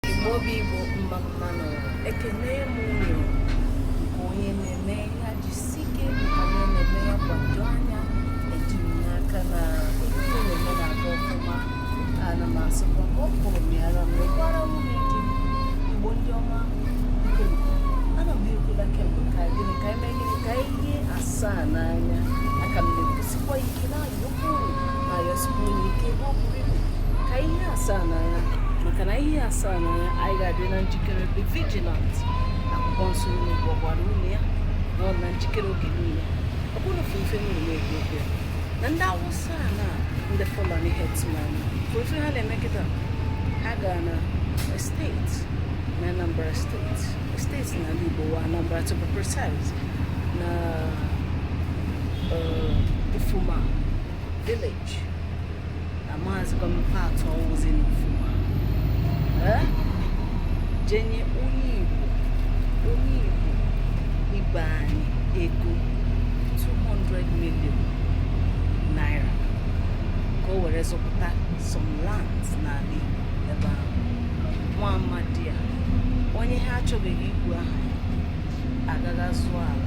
Igbo bụ Igbo mma mma nụ ekene m unu nke onye na-eme ya jisi ike nke onye na-eme ya kwado anya eji m n'aka na ihe ị na-eme na-aga ọfụma ana m asịkwa ka ọ kụrụ m ya na m mekwara nwunye di m igbo ndị ọma nke nke ana m ekwula kemgbe ka gịnị ka eme gịnị ka ihe asaa n'anya aka m na-ekwusikwa ike na ka ihe asaa n'anya maka na ihe asaa n'anya anyị ga-adị na njikere be vigilant akwụkwọ nsọ unu gwagwara unu ya nọ na njikere oge niile ọ bụrụ ofe ife unu na-ekwu okwu ya na ndị awụsa a na ndị fulani herdsmen ka ife ha na-eme kịta ha gara na steeti na anambra steeti steeti n'ala Igbo wa Anambra to be precise na Ufuma village na maazị gọọmenti atọ ozi na Ufuma eh? je nye onye Igbo onye Igbo ibe anyị ego 200 million naira ka o were zụpụta some lands n'ala Igbo nwa amadi a onye ha achọbeghị ikwu aha gaa zụọ ala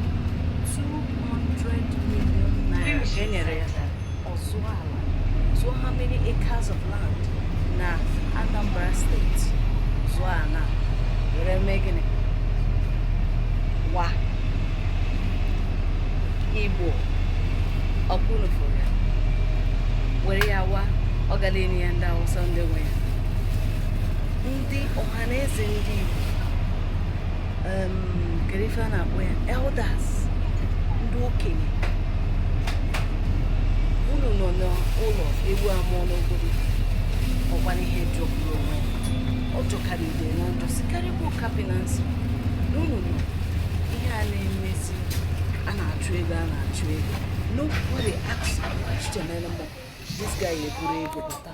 200 million naira ka e nyere ya ọ zụọ ala so how many acres of land na Anambra steeti zụọ ala were mee gịnị wa igbo ọkpụnụfụ ya were ya wa ọ gala enye ya ndị awụsa ndị nwe ya ndị ọha na eze ndị Igbo kedu ife a na-akpọ ya elders ndị okenye unu nọ n'ụlọ ewu amụọ n'ọgbụrị ọ bụrụ ihe jọgburu onwe ya ọ jọkarịrị udene njọ sikarịkwa nkapị n'isi na unu nọ ihe a na-emezi a na-achụ ego a na-achụ ego nobody asked question anymore this guy eburu ego bata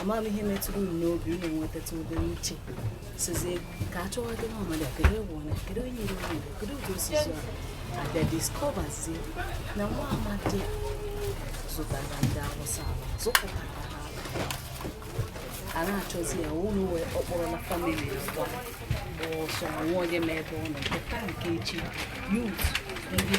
amaghị m ihe metụrụ unu n'obi unu enwetatụ ụdị uche sịzị ka a chọwa dị n'ọmada kedu ewu na kedu onye iri mmadụ kedu ụdị osisi a a bịa discoverzi na nwa amadi zụtara ndị awụsa zụpụtara ha a na-achọzi ya o wee kpọrọ na family ya gbaa ọsọ nwa onye ma ebe ọ nọ nke echi youth ndị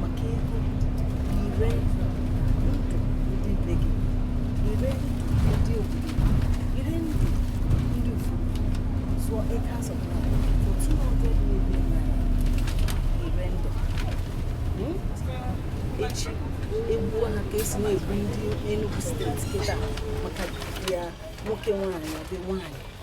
maka ego i ree ndụ ndị be gị i ree ndụ ndị obodo i ree ndụ ndị Ufuma zụọ eke azụpụta for 200 million naira i ree ndụ Hmm? echi egbuo ha ka e si na-egbu ndị Enugu steeti kịta maka ya nwoke nwaanyị ọ dị nwaanyị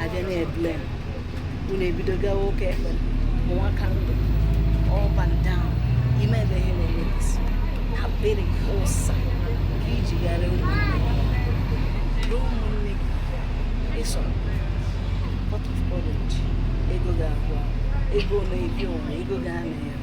a bịa na problem unu ebido gawa ụka ekpere ụwa ka ndụ up and down ime ebe ihe na-eme isi abịrị ụsa nke iji gara ụmụnne gị ụmụnne gị Esau pot of porridge ego ga-agwụ ego na-ebi onwe ego ga-ana ya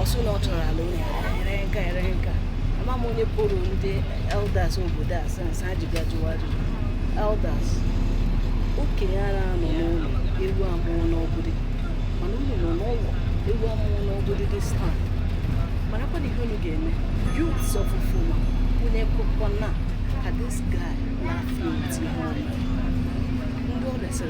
ọ sị na ọ chọrọ ala unu ere nka ere nka ama m onye kpọrọ ndị elders obodo a sense ha ji bịa jụwa ajụjụ elders okenye ana-anọ n'ụlọ ewu amụọ n'ọgbụrị mana unu nọ n'ụlọ ewu amụọ n'ọgbụrị this time marakwanụ ihe unu ga-eme youths of Ufuma unu ekwekwana ka this guy na-afịa eti ha ọnụ ndị ọ resịrị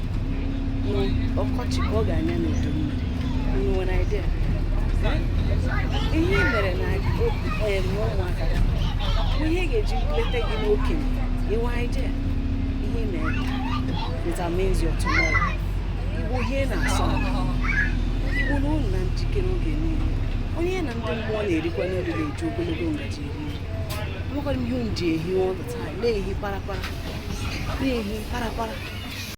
ọkọchị ka ọ ga-anya n'udu mmiri unu nwere idea ihe i mere n'ụmụaka ihe a ga-eji leta gị n'okenye inwe idea ihe mere determines your tomorrow igbo ihe na-asụ igbo na unu na njikere oge niile onye na ndị mmụọ na-erikọ n'oge na-eji ogologo ngaji eri nwekwara ihe unu ji ehi all the time na-ehi parapara na-ehi parapara